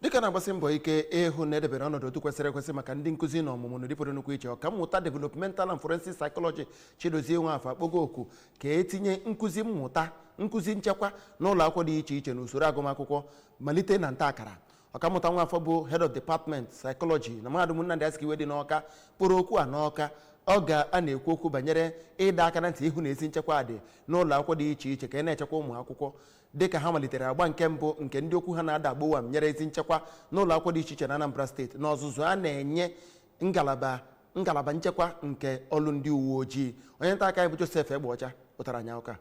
dịka a na-agbasi mbọ ike ịhụ na edebere ọnọdụ otu kwesịrị ekwesị maka ndị nkụzi na ọmụmụ na dịpụrụ nnukwu iche ọkammụta developmental and forensic psychology chidozie nwafọ akpọgo oku ka etinye nkụzi mmụta nkụzi nchekwa na ụlọ akwụkwọ dị iche iche na usoro agụmakwụkwọ malite na nta akara ọkammụta nwafọ bụ head of department psychology na mahadum nnamdi azikiwe dị n'ọka kpọrọ oku a n'ọka oge ọ na-ekwu okwu banyere ịdọ aka na ntị ịhụ na ezi nchekwa dị n'ụlọ akwụkwọ dị iche iche ka a na-echekwa ụmụ akwụkwọ dịka ha malitere agba nke mbụ nke ndị okwu ha na-ada agbo banyere ezi nchekwa n'ụlọ akwụkwọ dị iche iche na Anambra steeti na ọzụzụ a na-enye ngalaba ngalaba nchekwa nke ọlụ ndị uwe ojii onye nta akụkọ anyị bụ Joseph Egbeọcha wetara anyị akụkọ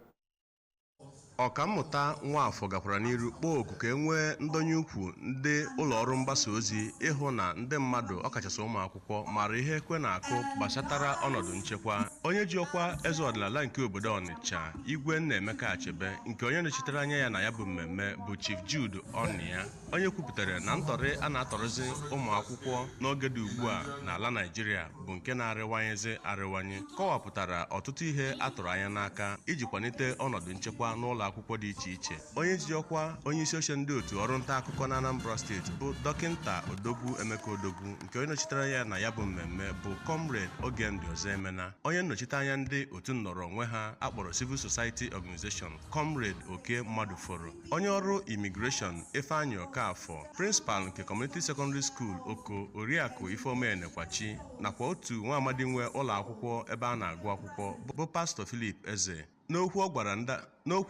a ọkammụta nwafọ gakwara n'iru kpọọ oku ka e nwee ndọnye ukwu ndị ụlọ ọrụ mgbasa ozi ịhụ na ndị mmadụ ọkachasị ụmụ akwụkwọ akwụkwọ mara ihe ekwe na-akụ gbasatara ọnọdụ nchekwa onye ji ọkwa eze ọdịnala nke obodo ọnịcha igwe nnaemeka achebe nke onye nọchitere anya ya na ya bụ mmemme bụ chief jude onyia onye kwupụtara na ntọrị a na-atọrịzi ụmụ akwụkwọ n'oge dị ugbu a n'ala naijiria bụ nke na-arịwanyezi arịwanye kọwapụtara ọtụtụ ihe a tụrụ anya n'aka iji kwalite ọnọdụ nchekwa n'ụlọ akwụkwọ dị iche iche onye ji ọkwa onye isi oche ndị otu ọrụ nta akụkọ na anambra steeti bụ dọkịnta odogwu emeka odogwu nke onye nọchitere anya ya na ya bụ mmemme bụ comrade ogemdi ọzọemena onye nnọchite anya ndị otu nnọrọ onwe ha akpọrọ civil society organization comrade okey madụforo onye ọrụ immigration ifeanyị ọkafọ prịnsịpal nke community secondary school oko oriakụ ifeoma enekwachi nakwa otu nwa amadi nwe ụlọ akwụkwọ ebe a na-agụ akwụkwọ bụ pastor philip eze N'okwu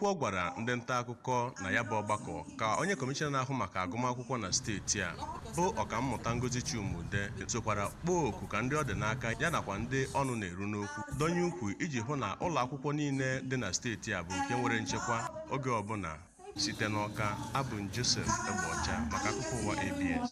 ọ gwara ndị nta akụkọ na ya bụ ọgbakọ ka onye kọmishọna na-ahụ maka agụmakwụkwọ na steeti a bụ ọkammụta Ngozi Chuma-Udeh sokwara kpọọ oku ka ndị ọ dị n'aka ya nakwa ndị ọnụ na-eru n'okwu dọnye ukwu iji hụ na ụlọ akwụkwọ niile dị na steeti a bụ nke nwere nchekwa oge ọbụla site n'ọka abụ m Joseph Egbeọcha maka akụkọ ụwa ABS